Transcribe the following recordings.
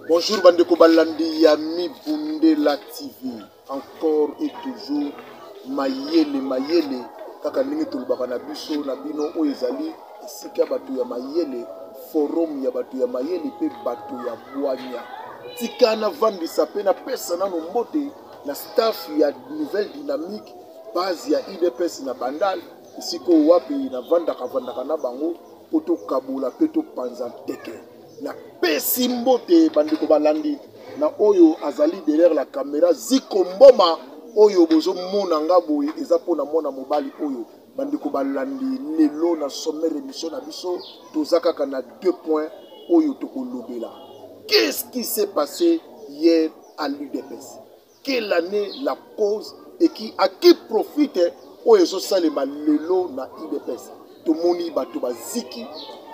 Bonjour bandeko balandi ya Mibundela TV. Encore et toujours mayele mayele kaka ndenge tolobaka na biso na bino oyo ezali esika bato ya mayele forum ya bato ya mayele mpe bato ya bwanya tika navandisa mpe napesa nano mbote na staff ya nouvelle dynamique base ya udps na bandal esika oyo wapi navandaka vandaka na bango mpo tokabola mpe topanza nteke Napesi mbote bandeko balandi na oyo azali derrière la camera Ziko Mboma oyo bozomona nga boye eza mpo na mwana mobali oyo bandeko balandi lelo na sommet remission na biso toza kaka na deux points oyo tokolobela qu'est-ce qui s'est passé hier à l'udps quelle année la cause et qui à qui profite oyo ezosalema lelo na udps tomoni bato baziki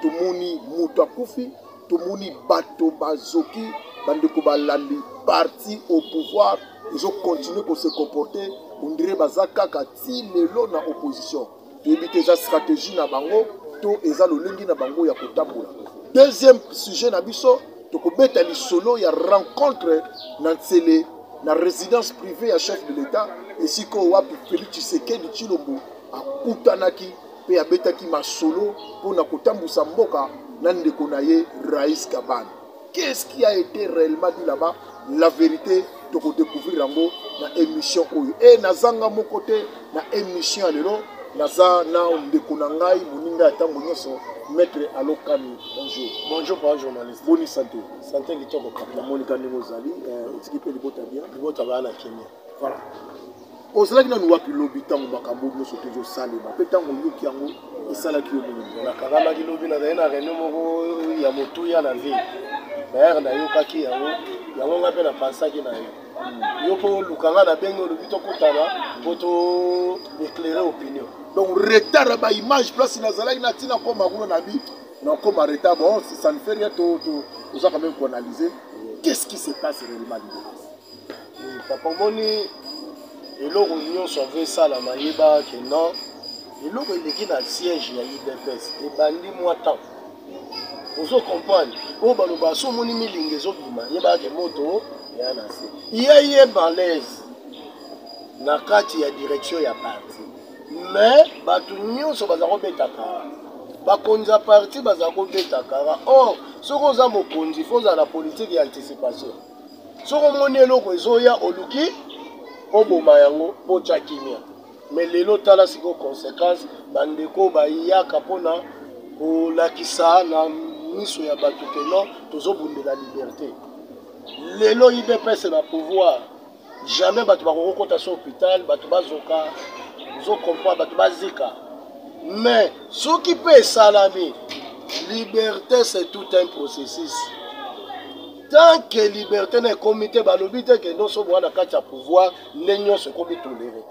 tomoni moto akufi tomoni bato bazoki bandeko balandi parti au pouvoir ezokontinue kose comporte ondire baza kaka ti lelo na opposition toyebi te eza stratégie na bango to eza lolenge na bango ya kotambola deuxième sujet na biso tokobeta lisolo ya rencontre na nsele na résidence privée ya chef de l'état esika oyo wapi félix tshisekedi tshilombo akutanaki mpe abetaki masolo mpo na kotambwisa mboka na ndeko na ye rais kabane qu'est-ce qui a été réellement dit là-bas la vérité tokodécouvrir yango na émission oyo e nazanga moko te na émission ya lelo naza na ndeko na ngai moninga ya ntango nyonso maître alokani bonjour bonjour papa journaliste boni santé santé kitoko papa namonika ndenge ozali eh, otiki mpe libota bien libota baa na kemia voilà ozalaki nanu wapi lobi ntango makambo nyonso te ezosalema mpe ntango oyoki yango esalaki yo nini nakangamaki lobi nazali na reno moko ya motuya na vie dayere nayokaki yango yango ngai mpe napansaki na ye hmm. yo mpo oluka ngai nabengi olobi tokutana mpo to éclaire opinion donc retard ya baimage place nazalaki na ntina koma kuna na bi nakoma retard bon ça ne fait rien to, to, oza quand même koanalyse qu'est ce qui se passe réellement libo papa omoni eloko nyonso avo esalama yebaka ke non eloko eleki na siège ya udps ebandi mwa temps ozo comprendre oyo baloba so omoni milinga ezobima yebaka ke moto ya na se ye ye malaise na kati ya direction ya parti mais bato nyonso baza kobeta kara bakonzi ya parti baza kobeta kara or soki oza mokonzi fo ozala na politike ya anticipation soki omoni eloko ezoya oluki oboma yango botya kimia me lelo tala sikoyo conséquence bandeko bayaka mpona kolakisa na miso ya bato ke non tozobundela liberte lelo idps na pouvoir jamais bato bakoki kota so hôpital bato bazoka ozo comprendre bato bazika mais soki mpe esalami liberté c'est tout un processus tant que liberté na ekomi te balobi te ke nyonso boa na kati ya pouvoir nde nyonso ekomi tolere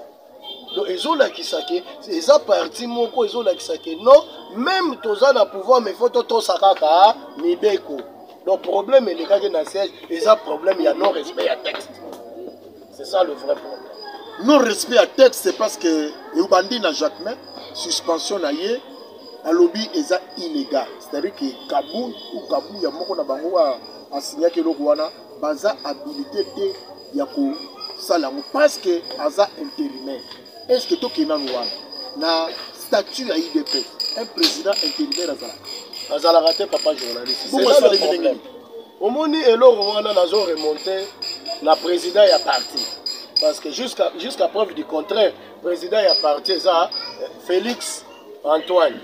donc ezolakisa ke eza parti moko ezolakisa ke non meme toza na pouvoir mais faut totosa kaka mibeko donc problème elekaki na siège eza problème ya non respect ya texte c'est ça le vrai problème non respect ya texte c'est parce que eubandi na jacquemain suspension na ye alobi eza illégal c'est-à-dire que kabou ou kabou ya moko na bango asignaki eloko wana baza habilité te ya kosala yango parce que aza intérimaire est ce que tokei nanu wana na statut ya idp un président intérimaire azalaka azalaka te papa journaliste bongo esalemi ndenge nini omoni eloko wana nazo remonte na président ya parti parce que jusqu'à jusqu'à preuve du contraire président ya parti eza euh, félix Antoine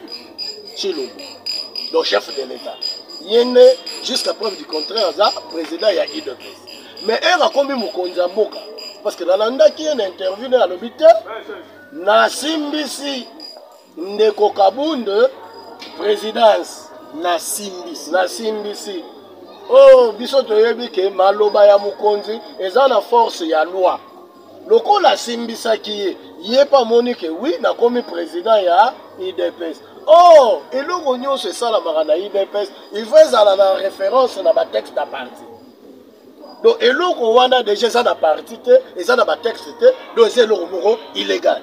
Chilombo, donc chef de l'État, yende jusqu'à preuve du contraire aza président ya UDPS. Mais heure akomi mokonzi ya mboka parce que nalandaki ye na interview na alobi te nasimbisi ndeko Kabund présidence nasimbisi nasimbisi oh biso toyebi ke maloba ya mokonzi eza na force ya loi lokola asimbisaki ye ye mpe amoni ke wi nakomi président ya idps or eloko nyonso esalamaka na idps il faut ezala na référence na batexte ya parti donc eloko wana deja eza na parti te eza na batexte te donc eza eloko moko illégal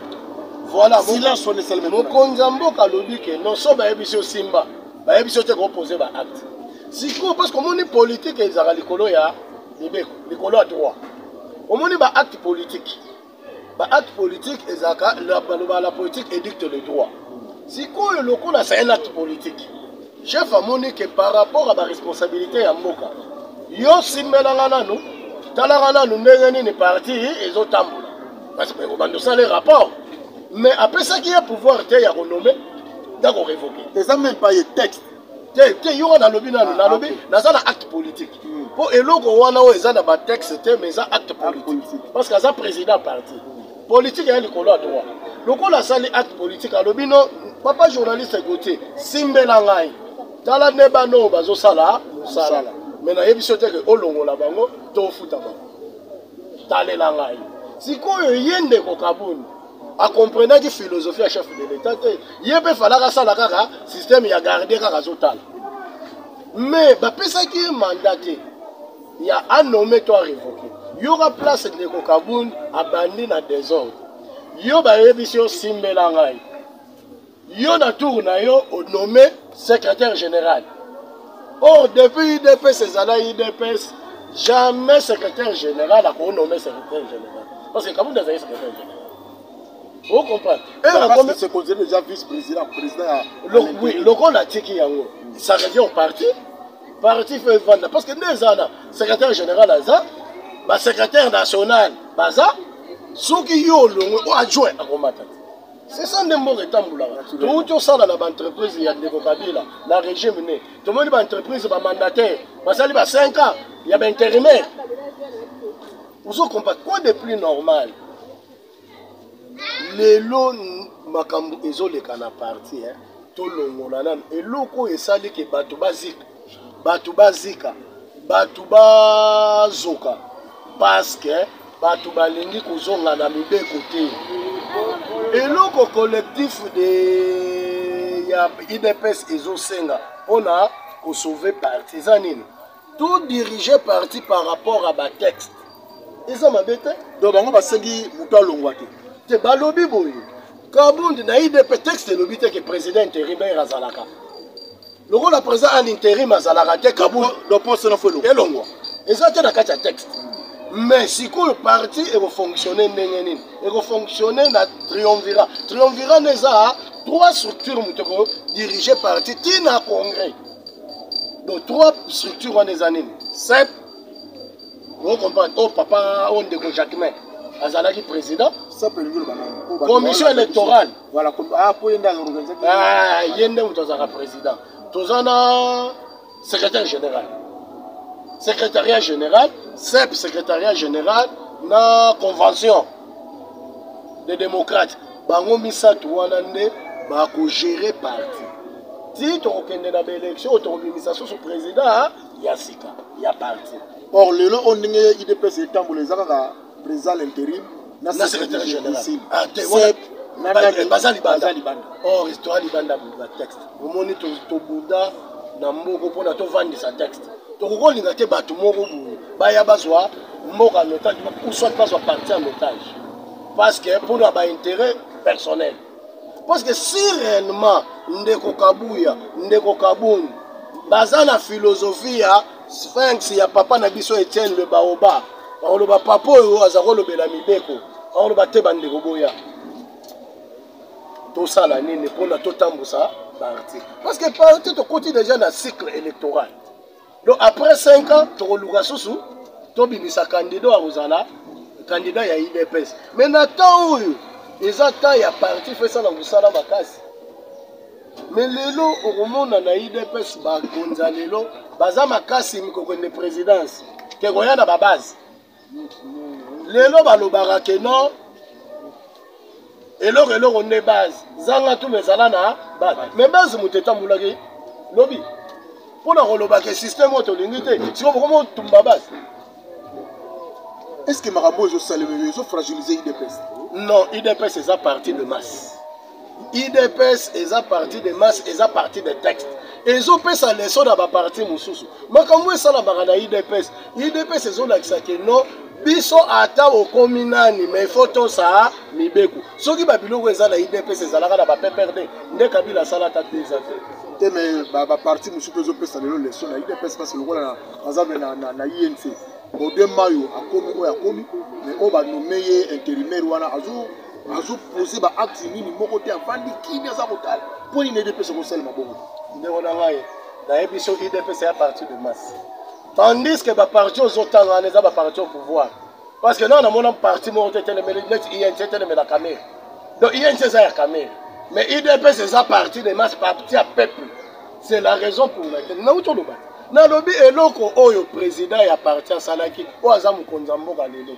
Voilà, silence on est Mokonzi ya mboka alobi ke non so bayebisi yo simba bayebisi yo te kopose ba acte sikoyo parce que omoni politike ezalaka likolo ya mibeko likolo ya droit omoni ba acte politique ba acte politique ezalaka baloba la politique édicte le droit sikoyo lokola c'est un acte politique Chef amoni que par rapport à ba responsabilité ya mboka yo simbelanga nanu talaka nanu ndenge nini parti ezotambola parce que obanda osala rapport mais apesaki ye pouvoir te ya konome nda korevoke eza meme pa ye texte te te yo wana nalobi nanu ah, nalobi ah, naza na acte politique mpo hmm. eloko wana oyo eza na batexte te mais eza acte politique parce que aza président parti Politique ya likolo ya droit. Lokola asali acte politique alobi no papa journaliste Gauthier simbela ngai. Tala ne bano bazosala musala. Mais nayebi so te ke olongola bango to ofuta bango. Talela ngai. Sikoyo ye ndeko Kabund akomprenaki philosophie ya chef de l'etat te ye mpe falaka asala kaka systeme ya gardien kaka azotala mais bapesaki ye manda te ya a nomme to a revoke yoka place ndeko kabund abandi na desordre yo bayebisi yo simbela ngai yo na tour na yo onome secrétaire général or depuis udps ezala udps jamais secrétaire général akoki nome secrétaire général parce que kabund azali secrétaire général vous comprenez lokola atiki yango ça revient au parti parti fo evanda parce que nde eza na secrétaire général aza basecrétaire national baza soki yo olongwe o adjoint akomata te c'est ça nde mboka etambulaka touti osala na baentreprise ya ndeko kabila na régime ne tomoni baentreprise bamandataire basali ba 5 ans ya baintérimaire ozokompa quoi de plus normal lelo makambo ezoleka na parti eh? tolongola nanu eloko oyo esali ke bato bazika bato bazika bato bazoka paske bato balingi kozonga na mibeko te eloko collectif de ya idps ezosenga mpona kosauve parti eza nini tout dirige parti par rapport à ba texte eza mabe te donc bango basengi moto alongwa te te balobi boye kabundi na idp texte elobi te ke président intérimaire azalaka lokola président à l'intérim azalaka te kabundi loposo nafo elongwa eza te na kati ya texte mais sikoyo parti ekofonctionne ndenge nini ekofonctionne na triomvira triomvira nde eza trois structure moto ekodirige parti ti na congrès donc trois structure wana eza nini sep ocomprendre o oh, papa o oh, ndeko jacquemain azalaki président commission électorale ah, ah, ye nde moto azalaka président toza na secrétaire général secrétariat général sep secrétariat général na convention des démocrates Bango misatu wana nde ba ko gerer parti ti tokokende na ba election oyo tokobimisa susu president ya sika ya parti. Or lelo oyo ndenge idps etambola eza kaka president à l'intérim na secrétaire général ah, baza libanda or histoire libanda ba texte omoni tobunda na mboko mpona tovandisa texte tokoki kolinga te bato moko boye baya bazwa mboka en otage ou soit bazwa parti en otage parce que mpo na baintérêt personnel parce que si réellement ndeko kabuya ndeko kabund baza na philosophie ya sphinx ya papa na biso etienne le baoba bakoloba papa oyo aza kolobela mibeko bakoloba te bandeko boya tosala nini mpona totambusa baarticle parce que parti tokoti déjà na cycle électoral donc après 5 ans tokoluka susu tobimisa candidat akozala candidat ya idps mais na temps oyo eza temps ya parti fo esala mosala makasi mais lelo okomona na idps bakonza lelo baza makasi mikokende présidence te koya na babase lelo balobaka ke non eloko eloko nde base zanga tuna ezala na base me base moto etambolaki lobi mpo na koloba ke systeme oyo tolingi te siko bokoma otumba base est ce que makambo oyo ezosalema ezofragilize idps non idps eza parti de masse idps eza parti de masse eza parti de texte ezopesa leso na baparti mosusu makambo esalamaka na idps idps ezolakisa ke no biso ata okomi nani mai fo tosa mibeko soki babiloko eza na idps ezalaka na bappd nde kabila asala ata peza te te mai baparti mosusu mpe ezopesa lelo leso na idps mpasi lokola aza na inc bode mayo akomi oyo akomi mai oyo banome ye interimaire wana azo azo poser ba acte nini moko te avandi kimia aza kotala mpo nini edepesa kosalema bongo ndeko na ngai nayebi so idepesa ya partir de masse tandis que baparti ozotanga wana eza baparti au pouvoir parce que nao namona parti moko te etelemeli neti inc etelemela kamere donc inc eza ya kamere mais idps eza parti de masse parti ya peuple c'est la raison pour laquelle nauti oloba nalobi eloko oyo président ya parti asalaki oyo aza mokonzi ya mboka lelo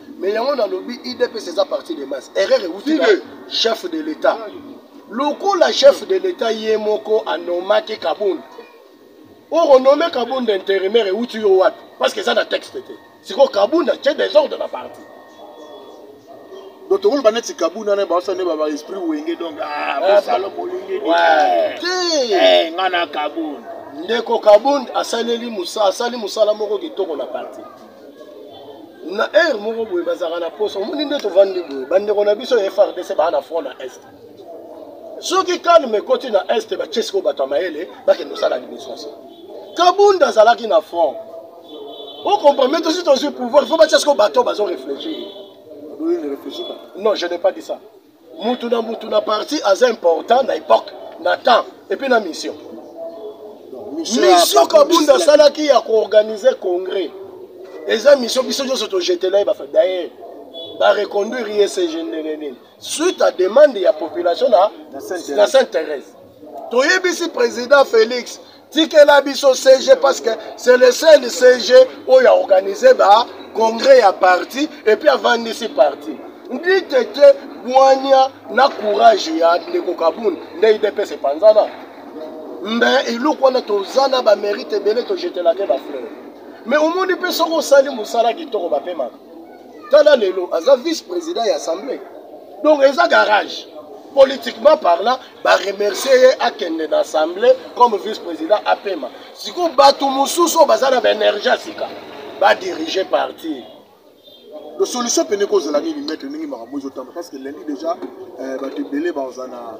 mais yango nalobi idps eza parti de masse erreur euti na chef de l'état lokola chef de l'état ye moko anomaki kabund oko nome kabund intérimaire euti yo wapi parce que eza na texte te sikoyo kabund atie desordre na parti donc tokoloba neti kabund wana baosa nde baba esprit wenge donc ah, eh, bosalo bolingi te eh, nga na kabund ndeko kabund asaleli asali mosala moko kitoko na parti na heure moko boye bazalaka na posa omoni nde tovandi boye bandeko na biso ya frdc baa na front na est soki kalme ekoti na est batie sikoyo bato ya mayele bakende kosala administration kabunda azalaki na front ocomprame tosi tozwi pouvoir fo batia sikoyo bato bazo réfléchir non je n'ai pas dit ça mutu na mutu na parti aza important na epoque na temps epuis na mission mission kabunda asalaki ya koorganize congrès eza mission biso nyonso tojetela ye bafa dayer bareconduire ye sege ndenge nini suite à demande ya population na sainte thérèse toyebisi président félix tikela biso cg parce que c'est le seul cg oyo aorganise ba congrès ya parti epuis avandisi parti ndi te te bwania na courage ya ndeko kabund nde idps epanzana mbe eloko wana toza na bamérite ebele tojetelake bafleur me omoni mpe soki osali mosala kitoko bapemaka tala lelo aza vice président ya assemblée donc eza garage politiquement parlant ba remercier ye akende na assemblée comme vice président apema sikoyo bato mosusu oyo baza na baénergie ya sika badirige parti le solution mpene ekozala nini maître ndenge makambo ezotamba parce que lundi déjà euh, bato ebele baoza na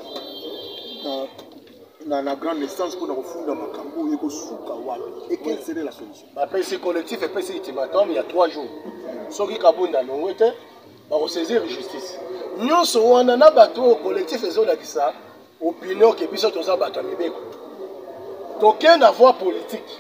na, na grande naissance mpona kofunda makambo oyo ekosuka wapi et quelle serait la solution bapesi collectif epesi ultimatum ya 3 jours soki kabunda alongwe te bakosaisir justice nyonso wana na bato oyo collectif ezolakisa opinion ke biso toza bato ya mibeko toke na voie politique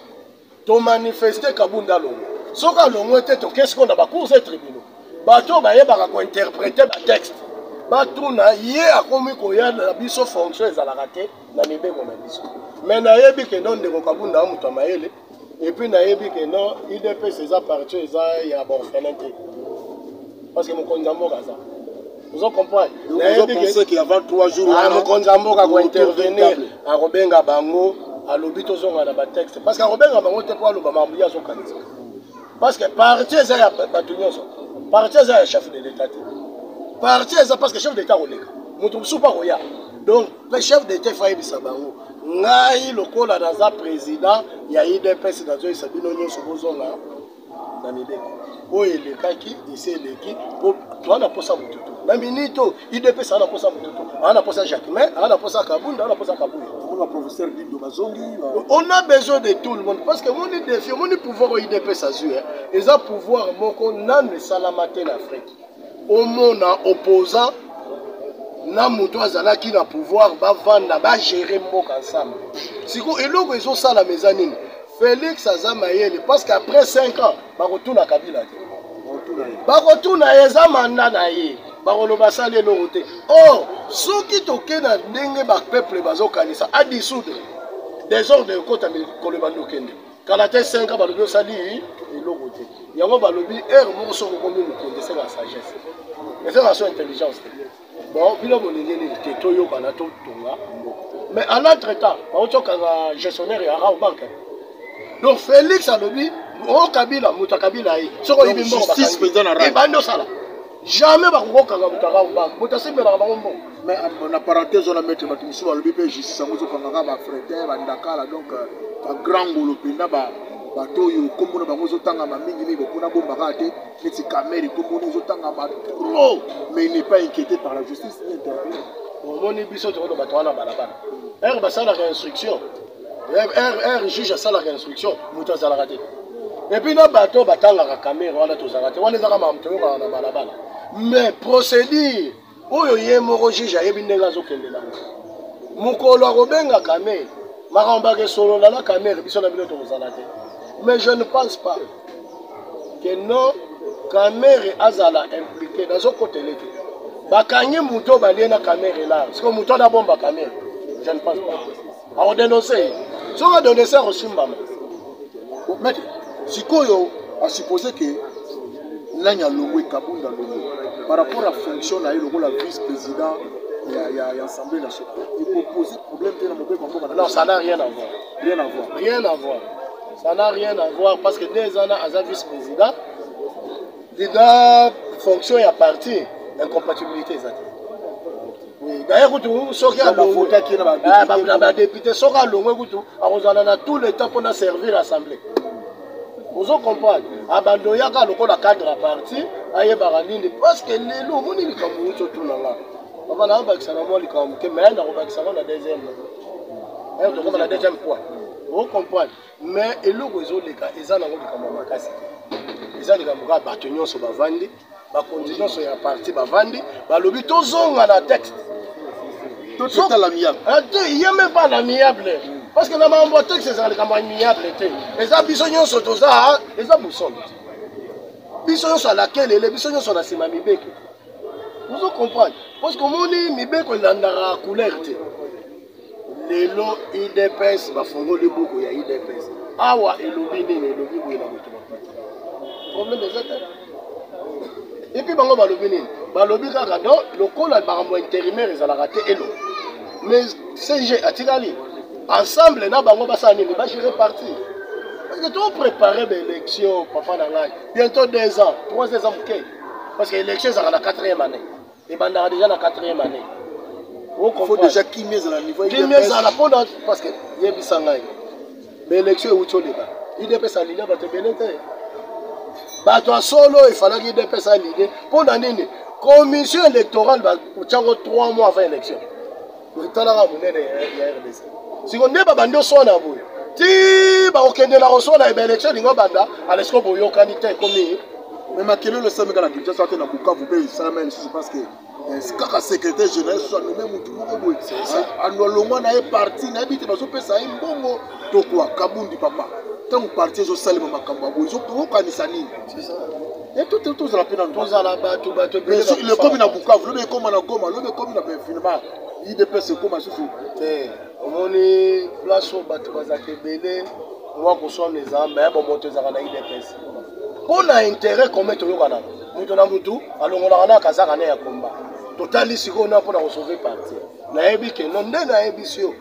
tomanifeste kabunda longo soki alongwe te toke sikoyo na bacours et tribunaux bato oyo bayebaka kointerprete batexte batuna ye akomi koya na biso fonction ezalaka te na mibeko na biso me nayebi kendo ndeko kabunda moto ya mayele et puis nayebi ke non udps eza parti eza ya baorphelin te parce que mokonzi ya mboka aza ozo comprendre ah, mokonzi ya mboka kointervenir akobenga bango alobi tozonga na batexte parce que akobenga bango te mpo aloba makambo ye azokanisa parce que parti eza ya bato nyonso parti eza ya chef de l'état te parti eza parce que chef de l'état koleka moto mosusu mpo akoya donc Mais chef d'etat faut ayebisa bango ngai lokola naza président ya idps nazoyisa bino nyonso bozonga na mibeko oyo elekaki esi eleki po toa na posa motu to na minute oyo idps aa na posa motu to aa na posa jacquemain aa na posa kabunda aa na posa kabuya on a besoin de tout le monde parce que moni défi omoni pouvoir oyo idps azwi eza pouvoir moko nanu esalama te na afrique omona opposant na moto azalaki na pouvoir bavanda bagere mboka ensemble siko eloko ezosalama eza nini félix aza mayele parce que après 5 ans bakotuna kabila te bakotuna ye eza manda na ye bakoloba asali eloko te or oh, soki toke na ndenge bapeuple bazokanisa adisoudre desordre ekota mikolo ebandi okende kala te 5 ans balobi osali eloko te yango balobi heure moko soki okomi mokonzi esala ya sagesse eza na so intelligence te bon bino bolingi nini te toyokana totonga mboka mais en entre temps baoti okanga gestionnaire ya rao banke donc félix alobi o oh, kabila moto ya kabila ye soki oyebi mbongo ebandi osala jamais bakokokanga mutaka mbangu moto asembelaka bango mbongo mais euh, na parenthèse wana maître bato mosusu balobi mpe justice yango ezokangaka bafretin bandakala donc euh, bagrand ngolo mpenza bato oyo nkombo na bango ezotangama mingi mingi bokuna bombaka te neti kamere nkombo na ezotangama trop mais il n'est pas inquiété par la justice ni interpellé omoni biso tokoloba bato wana balabala ere basalaka instruction r juge asalaka instruction moto azalaka te epuis na bato batangaka kamere wana tozalaka te wana ezaka makambo toyokaka na balabala mais procédure oyo ye moko juge ayebi ndenge azokende nango mokolo akobenga kamere makambo bakesolola na kamere biso na bino tokozala te mais je ne pense pas que non kamere azala implike nazokotele te bakangi moto balie na kamere la siko moto wana abomba kamere je ne pense pas ako denonse ye soki adonese akosimbama mete sikoyo asuppose ke nani alongwe kabunda longo par rapport à fonction na ye lokola vice président ya, ya, ya assemblée nationale ekopose problème te na mobeko mboka non ça n'a rien à voir rien à voir rien à voir ça n'a rien à voir parce que deux ans aza vice président deda fonction ya parti incompatibilité eza te daye kutu soki alongotaki na badepute ah, soki alongwe kutu akozala na tout le temps mpo na servir assemblée ozo comprendre abando yaka lokola cadre ya parti ayebaka nini parceke lelo omoni likambo uti otuna nga papa na abakisa na mwa likambo moke me nakobakisa ngo na deuxième eh, tokoma na deuxième point ozo comprendre mais eloko ezoleka eza nango likambo ya makasi te eza likambo kaka bato nyonso bavandi bakonzi nyonso ya parti bavandi balobi tozonga na texte ye même pas na miable parce que na makambo ya texte ezala likambo ya miable te eza biso nyonso toza eza bosolo biso nyonso alakelele biso nyonso na nsima mibeko ozo comprendre parce que omoni mibeko elandaka couleur te lelo udps bafongoli buku ya udps awa elobi nini elobi boye na moto maputa problème eza te epuis bango balobi nini balobi kaka don lokola makambo ya intérimaire ezalaka te elo mais cg atikali ensemble na bango basala nini bagere parti parce que toprépare baélection papa na ngai bientôt deux ans trois eza moke parce que élection ezalaka na quatrième année ebandaka deja na 4e année kimia ezala mpo na parce que yebisa ngai baélection euti oleka idps alinea bato ebele te bato ya solo efalaki idps alinee mpo na nini commission électorale otyango 3 mois avant élection botalaka monene ya rdc siko nde babandi oswana boye ti bakokende na koswana eba election elingi obanda alesiko boyokani te ekomi me makelelo esameka na kinshasa te na bukavu mpe esalama lisusu parce que eh, kaka secrétaire général soso anome motu moko boye alongwa na ye parti nayebi te bazopesa ye mbongo to quoi kabundi papa ntango parti ezosalema makambo ya boye okanisa nini tozala mpe nalekomi na bukavu lobi ekoma na goma lobi ekomi na benfinema idps ekoma susu te omoni place oyo bato bazalaka ebele mwa koswana ezala me bomoto ezalaka na idps mpo na intérêt commun toyokanaka moto na motu alongolaka na kazaka ne ya komba totali sikoyo na mpo na kosauve parti nayebi keno nde nayebisi yo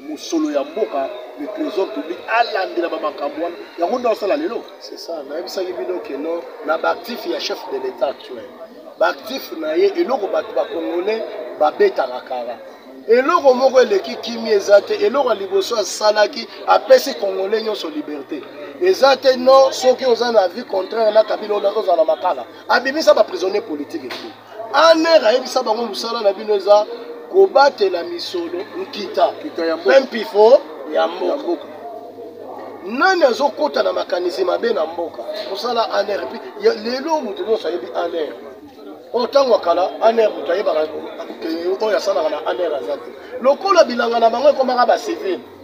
mosolo ya mboka le trésor public alandela bamakambo wana yango nde osala lelo c'est ça nayebisaki bino keno na baactif ya chef de l'état actuel baactif na ye eloko bato bacongolais babetaka kara eloko moko eleki kimi eza te eloko ya liboso asalaki apesi congolais nyonso liberté eza te no soki oza na vie contraire na kabila ozala makala abimisa baprisonnier politique etu Aner ayebisa bango mosala na bino eza kobatela misolo nkita mpe mpifo ya mboka nani azokota na makanisi mabe na mboka mosala aner mpe lelo moto nyonso ayebi aner oyo ntango akala aner moto ayebaka oyo asalaka na aner aza te lokola bilanga na bango ekomaka bacivile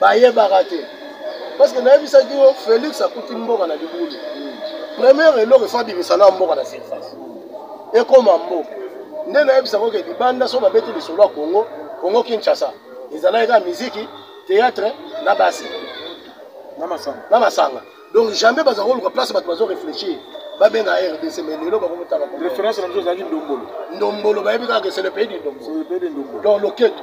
bayebaka te parce que nayebisaki yo félix akuti mboka na libulu première eloko efo abimisa na mboka na surface ekoma mboka nde nayebisako ke libanda so babeti lisolo ya congo congo kinshasa ezalaki kaka miziki théâtre na basi na masanga donc jamais bazala koluka place bato bazo réfléchir babenga rdc mais lelo bakomotaka référence na biso ezalaki ndombolo ndombolo bayebi kaka ke c'est le pays du ndombolo donc loketo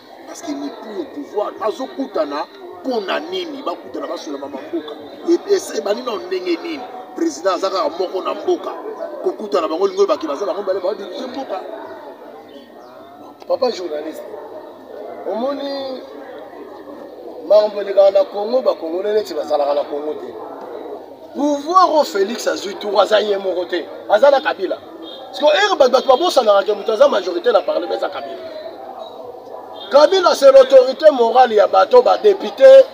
parce que n'est plus au pouvoir bazokutana mpo na nini bakutana basola mama mboka epesa ebandi na ndenge nini président aza kaka moko na mboka kokutana bango lingo ebaki baza bango bale badirige mboka papa journaliste omoni makambo elekaka na congo bakongole neti bazalaka na congo te pouvoir oyo félix azwi tour aza ye moko te aza na kabila siko ere bato bato babosanaka ke moto aza majorité na parlement eza kabila kabila c'est l'autorité morale ya bato badepute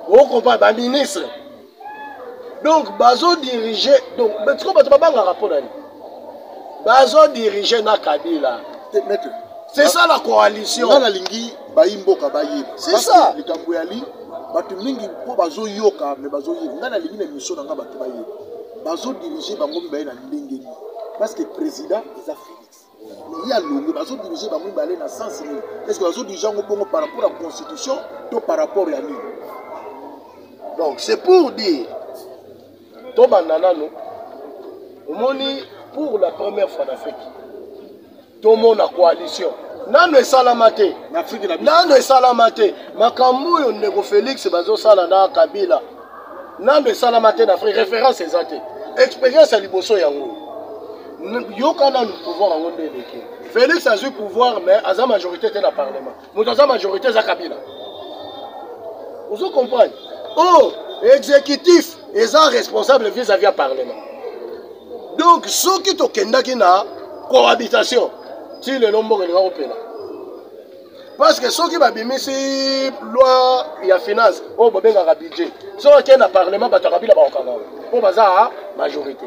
okompare baministre donc bazodirige donc siko bato babangaka mpo nani bazodirige na kabila c'est ça la coalition bayi mboka bayeba C'est ça. Parce que likambo ya li bato mingi mpo bazoyoka me bazoyeba ngai nalingi na émission na ngai bato bayeba bazodirige bango mibale na ndenge nini parce que président eza félix mais ye alongue bazodirige bango mibale na sens nini est ce que bazodirige yango bongo par rapport ya constitution to par rapport ya nini donc c'est pour dire tobanda nano omoni pour la première fois na afrique tomona coalition nano esalama te nano esalama te makambo oyo ndeko félix bazosala na kabila nano esalama te na afrique référence eza te expérience ya liboso yango yoka nano pouvoir yango nde eleki félix azwi pouvoir mais aza majorité te na parlement moto aza majorité eza kabila ozo comprendre o oh, exécutif eza responsable vis-à-vis ya parlement donc soki tokendaki na cohabitation ti lelo mboka elinga kopela parce que soki babimisi loi ya finance oyo bobengaka budget soki akei na parlement bato ya kabila bakokanga oyo mpo baza majorité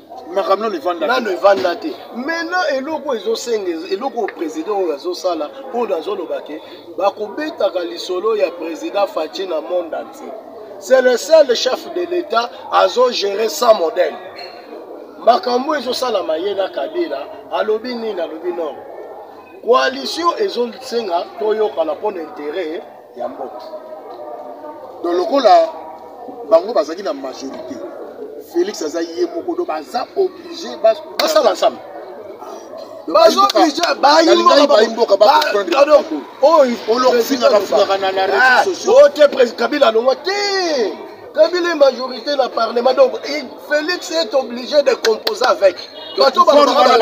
makambo nano evanda nano evanda te maintenant eloko oyo ezosenga eloko oyo président oyo azosala mpo na azoloba ke bakobetaka lisolo ya président faci na monde entier c'est le seul chef de l'état azogere sans modèle makambo ezosalama ye na kabila alobi nini alobi non coalition ezosenga toyokana mpo na intere ya mboka donc lokola bango bazalaki na majorité félix aza ye moko do baza oblige basala ensemble oyo te kabila alongwa te Kabila est majorité na parlement donc Felix est obligé de composer avec bato pouvoir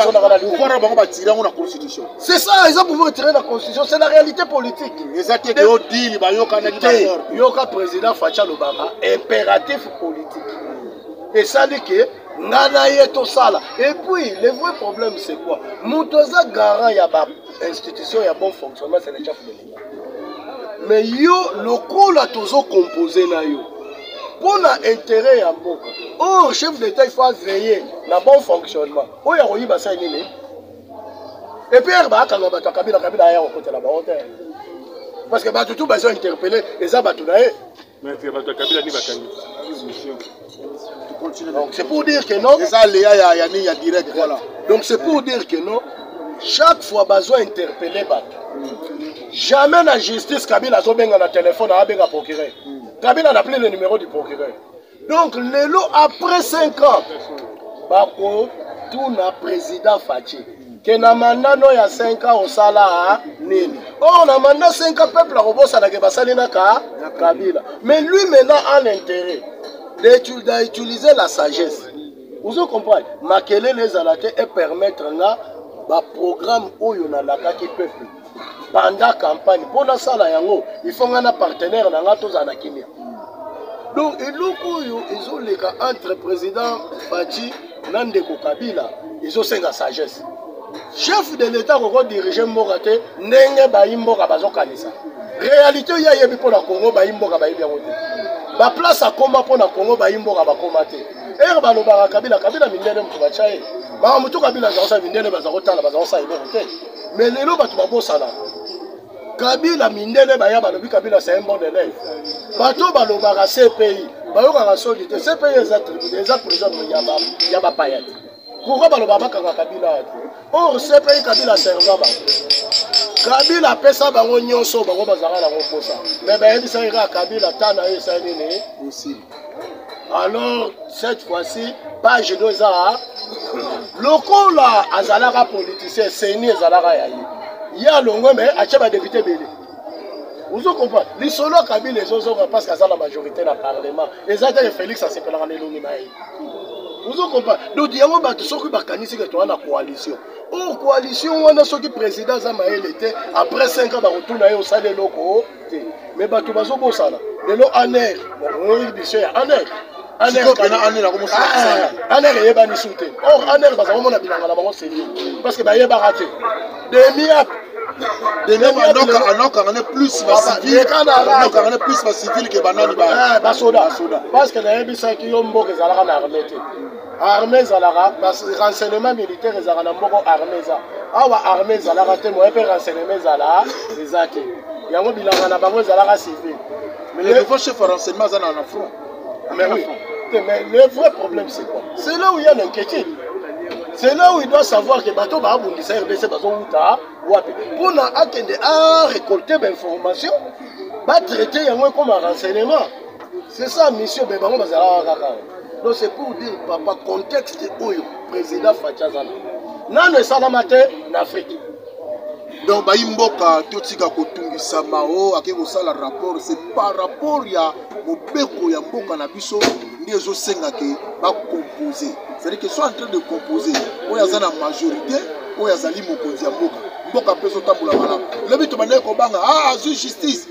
na bango batire yango na constitution c'est ça eza pouvoir tire na constitution c'est la réalité politique eza te keo dili bayokanaki te yoka président faci alobaka impératif politique esali ke ngai na ye tosala et puis le vrai problème c'est quoi moto aza garant ya ba institution ya bon fonctionnement c'est le chef de me yo lokola tozo compose na yo mpo na intérêt ya mboka or chef d'état il faut aveiller na bon fonctionnement oyo ya koyiba sai nini epr baakanga bato ya kabila kabila aya kokotela bango te parce que bato tu bazo interpele eza bato na ye Mais c'est bato ya kabila nde bakangi émission. Tu continues. Donc c'est pour dire que non. Eza Léa ya ya nini ya direct. Voilà. Donc c'est pour dire que non. Chaque fois bazo interpeller bato. Jamais na justice Kabila azobenga na téléphone abenga procureur. Kabila n'a appelé le numéro du procureur. Donc lelo après 5 ans bako tuna président Fatshi. ke na manda no ya 5 ans osala nini or na manda 5 ans peuple akobosana ke basali na ka kabila mais lui maintenant a l'intérêt d'utiliser la sagesse ozo comprendre makelele ezala te epermettre nga baprogramme oyo nalakaki peuple banda campagne mpo nasala yango ifo ngai na partenaire na ngai tozala na kimia donc eloko oyo ezoleka entre président faci na ndeko kabila ezosenga sagesse chef de l'état koko dirige mboka te ndenge bayi mboka bazokanisa réalité oyo ayebi mpo na congo bayi mboka bayebi yango te baplace akoma mpo na congo bayi mboka bakoma te ere balobaka kabila kabila mindele moto batya ye makambo to kabila aza kosala mindele baza kotala baza kosala eloko te mais lelo bato babosana kabila mindele baya balobi kabila c'est un bon élève bato oyo balobaka cpi bayokaka soni te cpi eza tribune eza prison ya bapaya te pourkoi baloba bakanga kabila ya te or cpi kabila serva bango kabila apesa bango nyonso bango bazalaka nango mposa me bayebisaki kaka kabila ta na yo esali nini alors cette fois-ci page no eza lokola azalaka politicien seni ezalaka ya ye ye alongwe me atya badepute ebele ozo comprendre lisolo ya kabila ezozonga parce que aza na majorité na parlement eza te félix asepelaka na elongi na ye ozo comprendre donc yango bato soki bakanisi ke toza na coalition o oh, coalition wana soki président aza mayele te après 5 ans bakotuna ye osala eloko te mais bato bazobosana lelo aner oyoki biso ya aner aner eyebani su te or aner baza komona bilanga na bango serie parce que bayebaka te demiap anokanga ne plus basivilnokanga ne plus bacivile ke banani basoda parce que nayebisaki yo mboka ezalaka na arme te arme ezalaka renseignement militaire ezalaka na mboko arme eza awa arme ezalaka te moye mpe renseignement ezala eza te yango bilanga na bango ezalaka civil lefo chef ya renseignement aza na front mais oui te mais le vrai problème c'est quoi c'est là où il y a l'inquiétude c'est là où il doit savoir que bato baabundisa rdc bazowuta wapi mpo na akende a récolter bainformation batraite yango ekoma renseignement c'est ça mission mais bango bazalaka kaka donc c'est pour dire papa contexte oyo président faci aza nango nano esalama te na afrique donc bayi mboka totika kotungisama o ake kosala rapport c'est par rapport ya mobeko ya mboka na biso nde ezosenga ke bacompose c'est-à-dire que soit en train de composer oyo aza na majorité oyo azali mokonzi ya mboka mboka mpe ezotambola malamu lobi tobandaki kobanga a ah, azwi justice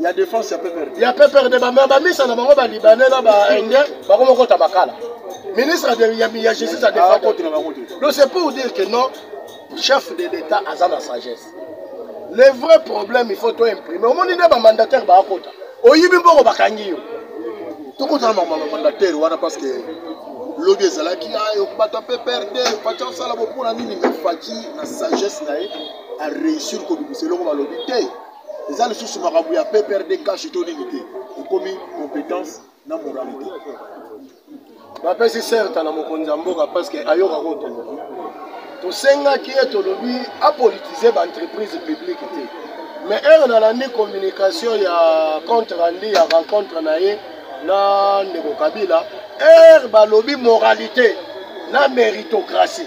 ya défense ya PPRD ya PPRD ba ba misa na bango ba libanais na ba indien ba ko moko tabakala ministre de ya, ya justice a défense contre na bango donc c'est pour dire que non chef de l'état aza na sagesse le vrai problème il faut to imprimer omoni nde ba mandataire ba akota oyibi mbongo bakangi yo tokotala makambo ya mandataire wana parce que lobi ezalaki ayo ah, bato ya pprd faci asala bopona nini me faci na sagesse na ye areusir kobimisa eloko balobi te eza lisusu makambo ya pprd cash to nini te ekomi compétence na moralité bapesi certa na mokonzi ya mboka parce que ayoka kotoloba tosengaki ye tolobi apolitise baentreprise publique te mais heure nalandi communication ya compte rendu ya rencontre na ye na ndeko kabila heure balobi moralité na méritocratie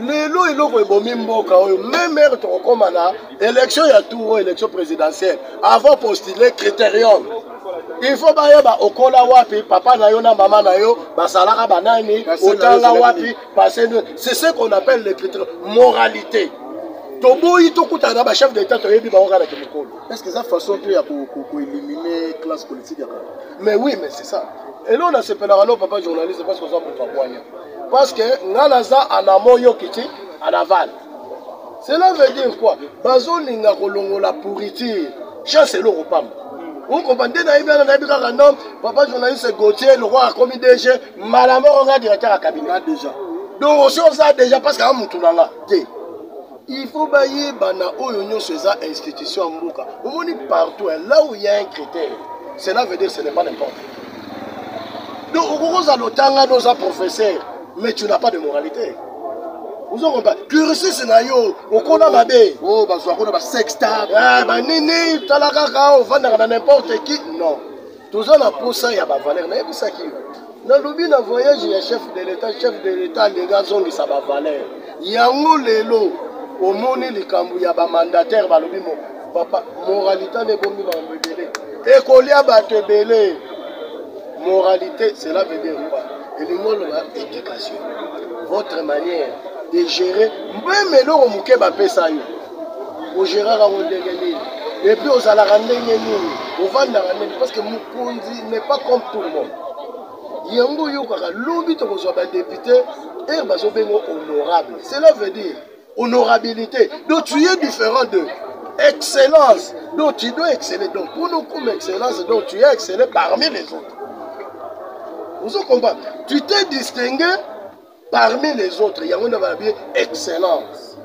lelo eloko ebomi mboka oyo meme heure tokokoma na élection ya tour oyo élection présidentielle avant postule critérium il faut bayeba okola wapi papa na yo na mama na yo basalaka banani otanga wapi pase c'est ce qu'on appelle le critère moralité toboyi tokutana na bachef d'état toyebi bango kaka na kimokolo est ce que eza façon mpe ya koélimine classe politique ya kaka mais oui mais c'est ça eloo nasepelaka no papa journaliste parce que oza moto abwanya Parce que nga naza en amont yo kiti en aval. Cela veut dire quoi? Bazolinga kolongola pourriture. Chance eloko pamba. okoba nde nayebi wana nayebi kaka nom papa journaliste gautier lokola akomi dg mbala moko nga directeur ya cabinet déjà donc osi oza déjà parce que amutu na nga te il faut bayeba na oyo nyonso eza institution ya mboka omoni partout là où il y a un critère cela veut dire ce n'est pas n'importe donc okoki ozala otangani oza professeur mais tu n'as pas de moralité ozokompa cursus na yo okola mabe oyo oh, bazwa kuna basexta eh, banini tala kaka ovandaka na n'importe qui non toza na posa ya bavaleur nayebisaki yo nalobi na voyage ya chef de l'etat chef de l'etat alingi azongisa bavaleur yango lelo omoni likambo ya bamandatere balobi mo papa moralité nde ebomi makambo ebele ekolia bato ebele moralité cela veut dire quoi elingi oloba éducation votre manière de gérer mpe meloko moke bapesa yo ogeraka ngo ndenge nini epuis ozalaka ndenge nini ovandaka ndenge parce que mokonzi n'est pas comme tout le monde yango oyokaka lobi tokozwa badepute ere bazobenga honorable cela veut dire honorabilité donc tu es différent de excellence donc tu dois exceller donc pour nous comme excellence donc tu es excellé parmi les autres ozo comprendre tu t'es distingué Parmi les autres, yango nde balobi excellence.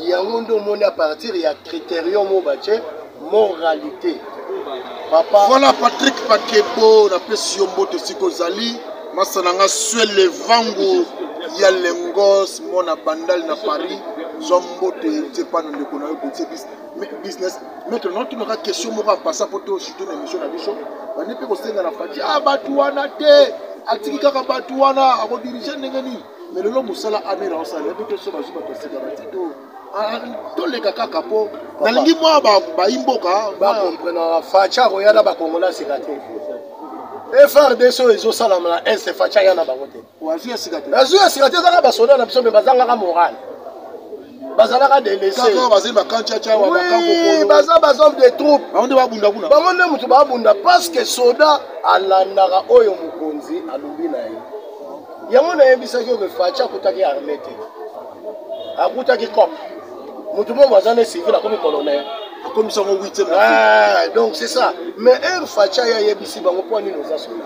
Yango nde omoni à partir ya criterium oyo batye moralité. Papa. Voilà Patrick Pakebo, napesi yo mbote esika ozali. Masa na nga Swele Vangu ya Lengos, mwana bandali na Paris. Zwa mbote nzepana ndeko na yo Botse Bista. business maître na otunaka question moko apasa mpo to sute na émission na biso bandi mpe kosenga na fati a ah, bato wana te atiki kaka bato wana akodirige ndenge nini mais lelo mosala amere aosala yebi te so bazwi bato asika batito ah, toleka kaka mpo nalingi mwa bayi mboka bakomprenaka faci akoya na bakongola sika te efrdc oyo ezosalama na est faci aya na bango te Oazu ya sika te. Oazu ya sika te ezaka ba soda na biso mais bazangaka morale. bazalaka delesebaza bahomme de troupe bango nde babunda kuna bango nde moto babunda parce que soda alandaka oyo mokonzi alobi na ye yango nayebisaki oyo faci akutaki arme te akutaki cop moto momo aza ne civil akomi colonel akomisi yango huitième eh, donc c'est ça mais heure faci aye ayebisi bango mpo nini oza soda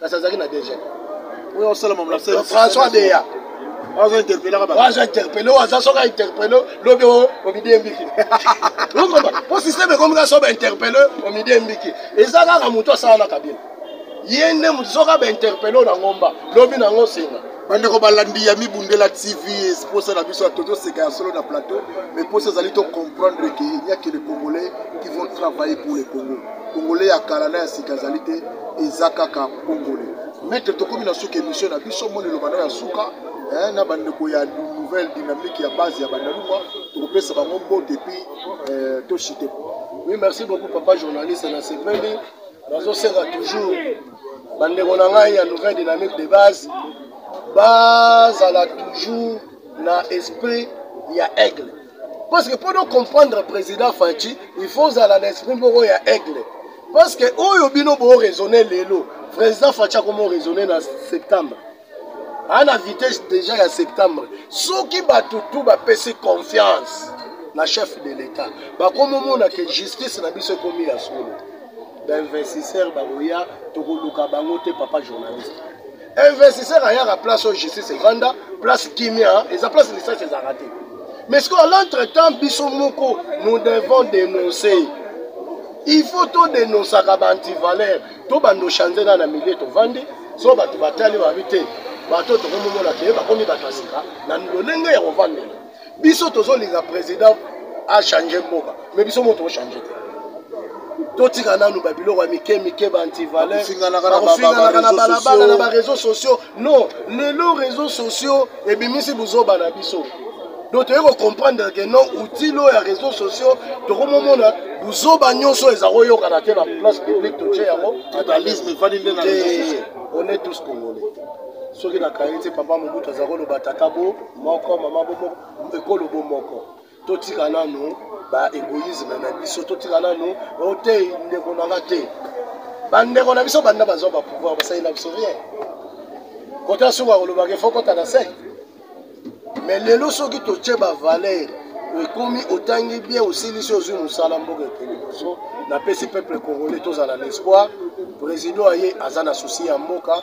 kasi azalaki na dg oyo osala mamla françois deya azo interpele kaka azo interpele oyo aza soki interpele lobi omidi embiki okomba mpo systeme ekomi kaka so bainterpele omidi embiki eza kaka motu asala na kabila ye nde motu soki abainterpele oyo na ngomba lobi na yango senga bandeko balandi ya mibundela tv esposa na biso ya tozoseka ya solo na plateau mais mposa ezali to comprendre ke il n'y a que les congolais qui vont travailler pour le congo Congolais ya kala na ya sika ezali te, eza kaka Congolais. Maître, tokomi na suka emission na biso, moni loba na ya suka eh, na bandeko ya nouvelle dynamique ya base ya bandaluma tokopesa bango mbote epuis eh, toshite oui merci beaucoup papa journaliste na sepeli nazosenga toujours bandeko na ngai ya nouvelle dynamique de base bazala toujours na esprit ya aigle parce que mpo comprendre président faci il faut ozala na esprit moko ya aigle parce que oyo bino boraisonne lelo président faci akomi oraisonne na septembre aa na vitesse déjà ya septembre soki bato tu bapesi confiance na chef de l'état bakomi omona ke justice na biso ekomi ya solo bainvestisseur bakoya tokoluka bango te papa journaliste investisseur ayaka place oyo justice evanda place kimia eza place lisasi ezalaka te mais sikoyo à l'entretemps biso moko nous devons dénoncer il faut todenosaka baantivaleur to bandoshanzela na milie tovandi so bato batali babi te bato tokomomona te bakomi bato ya sika na lolenge ya kovandela biso tozolinga président achange mboka mais biso mo tochange te totika nanu babiloko ya mike mike baantivaleubakofinganaka na balabala na bareseau sociaux non lelo réseau sociaux ebimisi buzoba na biso donc toyei kocomprendre ke non outil oyo ya réseau sociaux tokomomona buzoba nyonso eza koyokana te na place publique totie yango on est tous congolais soki nakangi te papa mobutu aza koloba tata bo moko mama bomo ekolo bomoko totika nanu ba egoïsme na biso totika nanu otei oh, ndeko na nga te bandeko na biso banda bazwa bapouvoir basalela biso rien kota soki akolobaka efo kota na sec mais lelo soki totye bavaleur ekomi otangi bien osilisi ozwi mosala mboka ete liboso napesi peuple congolais tozala na espoir président aye aza na souci ya mboka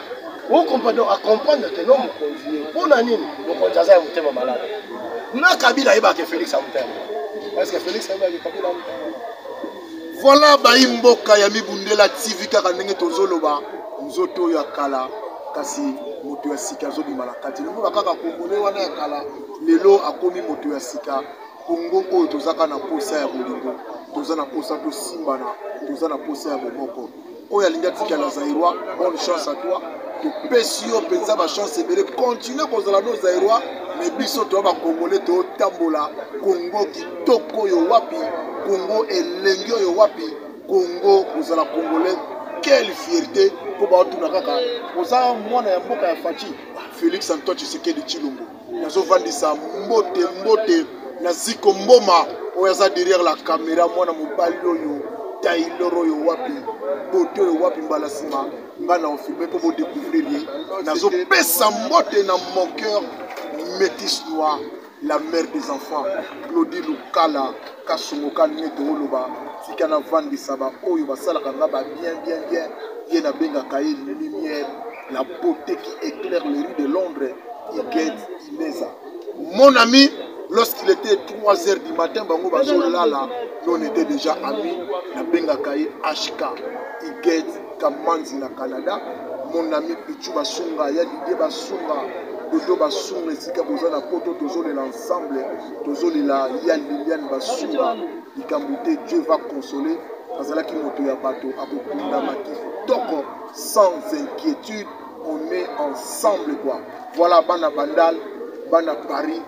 okomprendre a comprendre te no mokonzi ye mpo na nini mokonzi aza ya motema malamu na kabila ayebaka felix ya motema parceke felix ayebaki kabila ya motema voilà bayi mboka ya mibundela tv kaka ndenge tozoloba nzoto oyo ya kala kasi moto ya sika azobima na kati lokola kaka kongole wana ya kala lelo akomi moto ya sika kongo oyo tozaka na mposa ya bolingo toza na mposa tosimbana toza na mposa ya bomoko oyo alingi atikala zairoi bonne chance à toi topesi yo mpenza bachance ebele continue kozala no zairoi me biso toya bakongole totambola kongo kitoko oyo wapi kongo elengi oyo wapi kongo kozala kongole quelle fierté mpo baotuna kaka oza mwana ya mboka ya faci félix antoine tshisekedi tshilombo nazovandisa mbote mbote na ziko mboma oyo aza derrière la camera mwana mobali oyo taylor oyo wapi bote oyo wapi mbala nsima nga na ofilme mpo bodécouvrir ye nazopesa mbote na mon cœur métis noir la mère des enfants claudi lukala kasongoka nete oloba tika navandisa baoyo basalaka nga ba bien bien bien ye nabengaka ye lumière La beauté qui éclaire les rues de Londres, Iged Imeza. Mon ami, lorsqu'il était 3 h du matin, bango bazo lala, nous on était déjà amis, na benga kaye HK, Iged Kamanzi na Canada, mon ami Pichu Basunga, ya Didier Basunga, Dodo Basunga, esika boza na poto, tozolela ensemble, tozolela ya Liliane Basunga, likambo te, Dieu va consoler, azalaki moto ya bato, akokunda makifo, toko, sans inquiétude on est ensemble quoi voilà bana bandal bana paris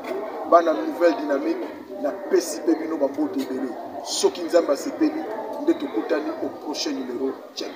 bana nouvelle dynamique napesi mpe bino bambote ebele soki nzambe asepeli nde tokutani au prochain numero check